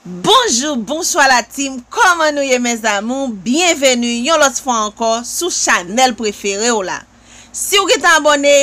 Bonjou bonswa la team kòman nou ye mes amours byenveni yon lòt fwa ankò sou chanèl prefere w la siw gentan abòne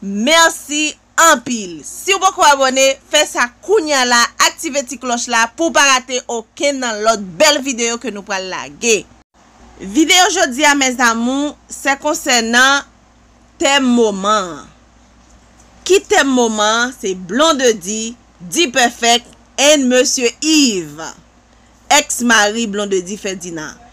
mèsi anpil siw poko abòne fè sa kounya la aktive ti klòch la pouw pa rate okenn nan lòt bèl videyo ke nou pral lage. Videyo jodi a mes amours se konsènan tèm moman an ki tèm moman an se blondedy D-Perfect and Mesye Yves, ex mari Blondedy Ferdinand.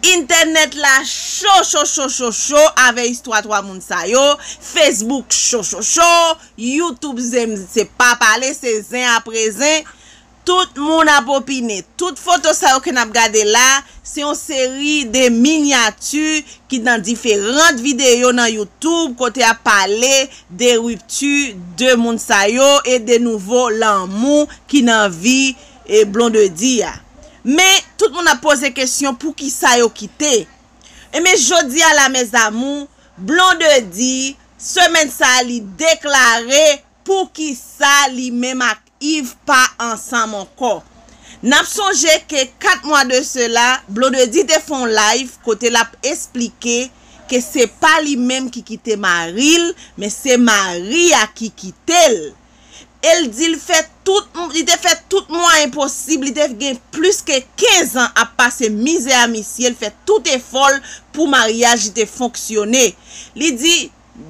Intènèt la cho cho cho cho cho avè istwa 3 moun sa yo, Facebook cho cho cho, YouTube zen se pa pale se zen apre zen, tout moun ap opine. Tout foto sa yo ke nap gade la, se yon seri de minyati ki nan diferant videyo nan YouTube kote yap pale de ruptu de moun sa yo e de nouvo lanmou ki nan vi blondedy a men tout moun ap poze kesyon poukisa yo kite enben jodi a la mes amours blondedy semèn sa li deklare poukisa li menm ak Iv pa ansanm ankò. N ap sonje ke 4 mwa de sela, Blondedy te fè yon live kote l ap esplike ke se pa li menm ki kite mari l, men se mari a ki kite l. E l di l fè tout, li te fè tout mwayen posib, li te gen plis ke 15 an ap pase mizè a misye, l fè tout efò l pou maryaj li te fonksyone. Li di,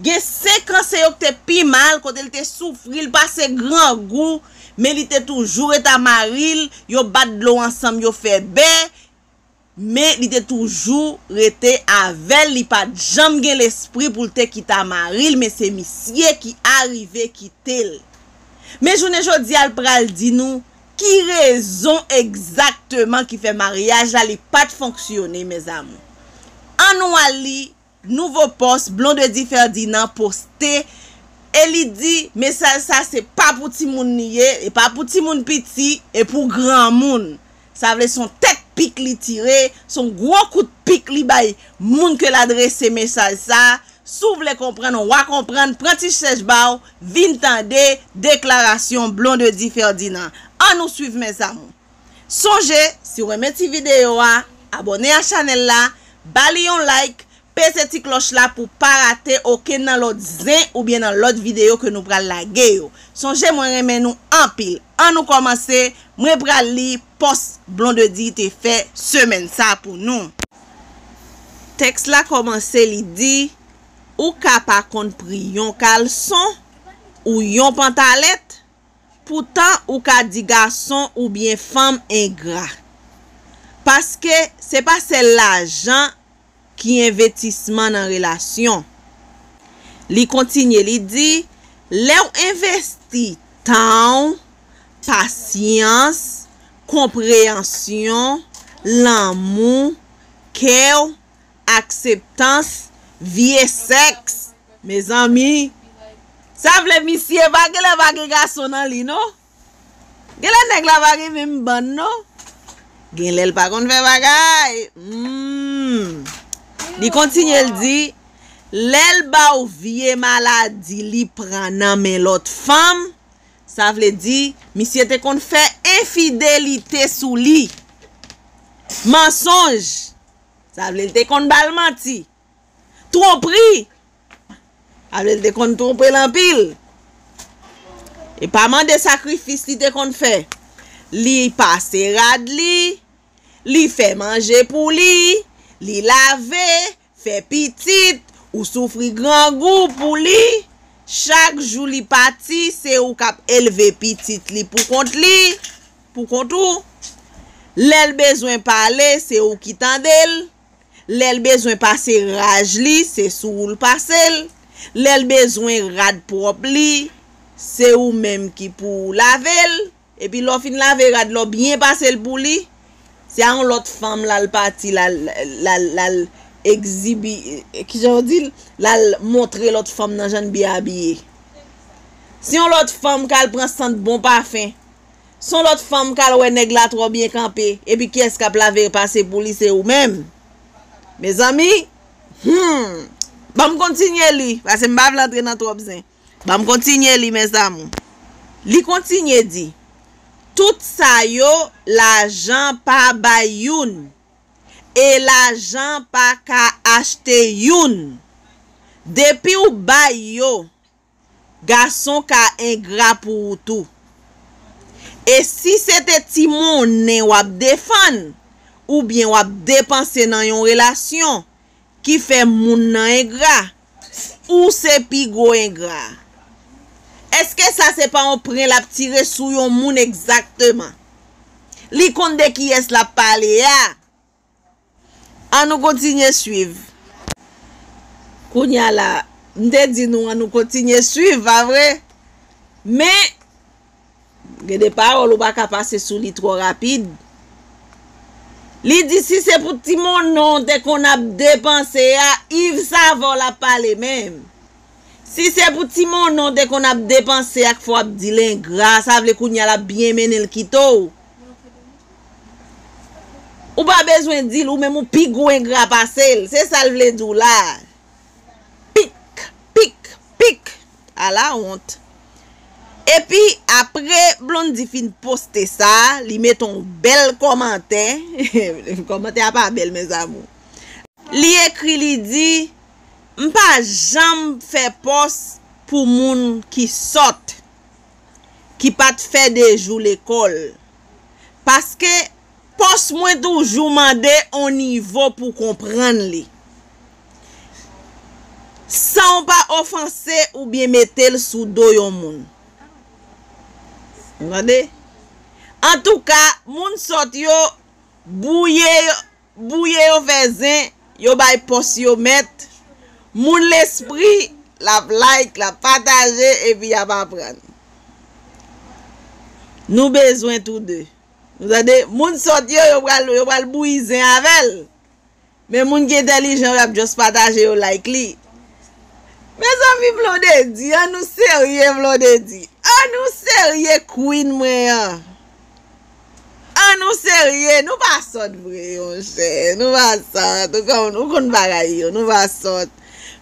Gen 5 an se yo k te pi mal kote l te soufri l pase grangou men li te toujou ret a mari l yo bat dlo ansanm yo fè bè men li te toujou rete avè l li pa t janm gen lespri pou l te kite a mari l men se misye ki arive kite l men jounen jodi a l pral di nou ki rezon egzakteman ki fè maryaj la li pa t fonksyone mèzamou an nou al li Nouvo pòs Blondedy Ferdinand poste e li di mesaj sa se pa pou timoun li ye, e pa pou timoun piti e pou granmoun. Sa vle son tèt pik li tire, son gwo kout pik li bay moun ke l adrese mesaj sa, si w vle konprann wa konprann pran ti chèch ba w vin tande deklarasyon Blondedy Ferdinand. An nou swiv mes amours. Sonje si w renmen ti videyo a, abòne a chanèl la, ba li yon like, peze ti klòch la pou w pa rate okenn nan lòt zen oubyen nan lòt videyo ke nou pral lage yo. Sonje mwen renmen nou anpil. An nou kòmanse, mwen pral li pòs Blondedy te fè semèn sa pou nou. Tèks la kòmanse li di, Ou ka pa konn pri yon kalson ou yon pantalèt, Poutan ou ka di gason ou byen fanm engra. Paske se pa sèl lajan ki envetisman nan relasyon. Li kontinye li di, lè w envesti tan w, pasyans, konpreyansyon, lanmou, kè w, akseptans, vie sèks, mezanmi, sa vle misye pa genlè pa gen gason nan li non. Genlè nèg la pa gen menm bann non. Genlè l pa konn fè bagay. Humm. Li kontinye l di, lè l ba w vie maladi li pran nan men lòt fanm, sa vle di misye te konn fè enfidelite sou li. Mansonj! Sa vle l te konn ba l manti. Twonpri! Sa vle l te konn twonpe l anpil. Li pa mande sakrifis li te konn fè. Li pase rad li, li fè manje pou li, li lave, fè pitit, ou soufri grangou pou li. Chak jou li pati, se ou k ap elve pitit li poukont li. pou kont ou, lè l bezwen pale se ou ki tande l, lè l bezwen pase raj li se sou ou l pase l, lè l bezwen rad pwòp li se ou menm ki pou w lave l, epi lè w fin lave rad la w byen pase l pou li, se a yon lòt fanm l al pati l al l al egzibi, kijan yo di l, l al montre lòt fanm nan jan n byen abiye. Se yon lòt fanm k al pran sant bon pafen. Son lot fanm kal wè nèg la tro byen kanpe epi kiyès kap lave pase pou li se ou menm Mezanmi humm banm kontinye li pase m pa vle antre nan trop zen banm kontinye li mes amour Li kontinye di tout sa yo lajan pa bay youn e lajan paka achte youn depiw bay yo Gason ka engra pou ou tou. E si se te ti monnen w ap defann oubyen w ap depanse nan yon relasyon ki fè moun nan engra, ou se pi gwo engra a. Eske sa se pa yon pren l ap tire sou yon moun egzakteman? Li konn de kiyès l ap pale a. An nou kontinye swiv. Kounya la, m te di nou an nou kontinye swiv, pa vre? Men, gen de pawòl ou pa ka pase sou li twò rapid. Li di si se pou ti monnen w te konn ap depanse a, Iv Sava w l ap pale menm. Si se pou ti monnen w te konn ap depanse ak fò w ap di l engra, sa vle kounya l ap byen mennen l kite w. Ou pa bezwen di l ou menm ou pi gwo engra pase l, se sa l vle di w la a. Pik, pik, pik! Ala wont! Epi, apre Blondie fin poste sa, li mete yon bèl kòmantè, kòmantè a pa bèl mes amours, li ekri li di, M pa janm fè pòs pou moun ki sòt, ki pa t fè 2 jou lekòl. paske pòs mwen toujou mande on nivo pou konprann li san w pa ofanse oubyen mete l sou do yon moun ou tande antouka moun sòt yo bwouye yo Bouye yo fè zen yo bay pòs yo mèt moun lespri lap like lap pataje epi yap aprann nou bezwen tou de nou tande moun sòt yo yo pral yo pral bouyi zen avèl men moun ki entèlijan yo yap just pataje yo like li mezanmi blondedy an nou serye blondedy an nou serye queen mwen an. An nou serye nou pa sòt vre monchè nou pa sòt ou konn ou konn bagay yo nou pa sòt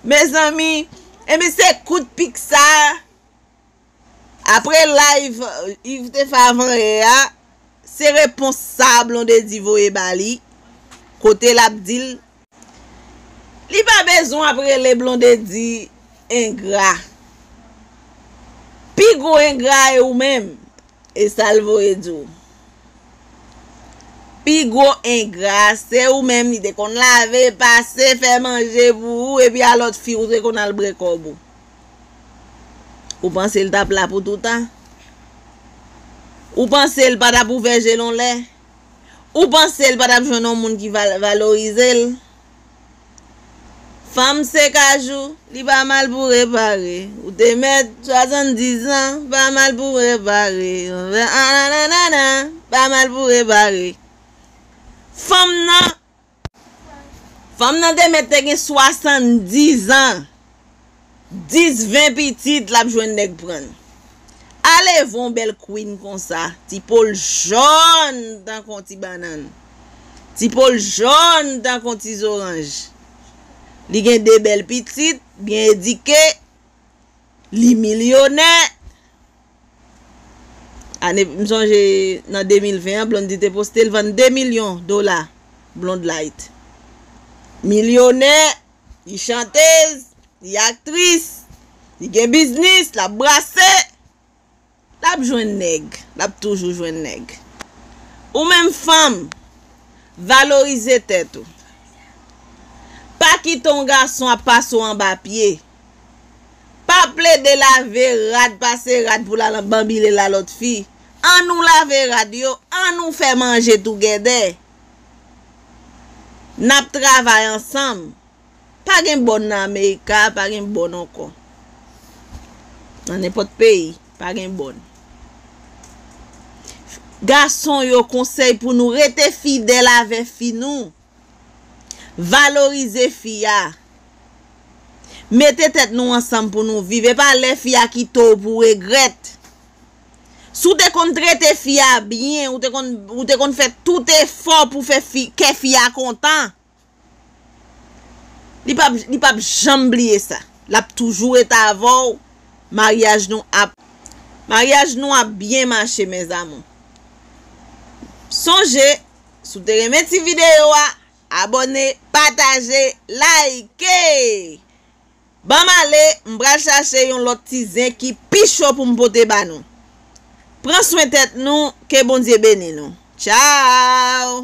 mezanmi ebyen se kout pik sa apre live yves te fè avan yè a se repons sa blondedy voye ba li kote lap dil Li pa bezwen ap rele blondedy engra pi gwo engra a e ou menm e sal voye di w pi gwo engra a se ou menm li te konn lave pase fè manje pou ou epi a lòt fi ou te konn al bre kòb ou ou panse l tap la pou toutan ou panse l pa tap ouvè je l on lè. Ou panse l pa tap jwenn yon moun ki valorize l? Fanm se kajou, li pa mal pou repare, ou te mèt 70 zan, pa mal pou repare, anananana, pa mal pou repare. Fanm nan Fanm nan te mèt te gen 70 ans 10 20 pitit lap jwenn nèg prann alevwa yon bèl queen konsa ti pol jòn tankou yon ti bannann ti pol jòn tankou yon ti zoranj li gen 2 bèl pitit byen edike li milyonè Ane, m sonje nan 2020 an Blondedy te poste l vann 2 milyon dola Blondlight. Milyonè, li chantez, li aktris, li gen biznis, l ap brase, l ap jwenn nèg, l ap toujou jwenn nèg. Ou menm fanm, valorize tèt ou. Pa kite yon gason ap pase w anba pye. Pa plede lave rad pase rad pou lal anbanbile la lòt fi. An nou lave rad yo, an nou fè manje tougèdè. Nap travay ansanm. Pa gen bòn nan Amerika, pa gen bòn ankò. Nan nenpòt peyi, pa gen bòn. Gason yo konsèy pou nou rete fidèl avè fi nou. Valorize fi a. Mete tèt nou ansanm pou nou viv. E pa lè fi a kite w pou w regrèt. Si w te konn trete fi a byen, ou te konn fè tout efò pou fè kè fi a kontan. Li pap janm bliye sa. L ap toujou rete avè w. Maryaj nou ap. Maryaj nou ap byen mache mes amour. Sonje Si w te renmen ti videyo a, abòne, pataje, like! Ban m ale, m pral chache yon lòt ti zen ki pi cho pou m pote ba nou. Pran swen tèt nou, ke Bondye beni nou. Tchao!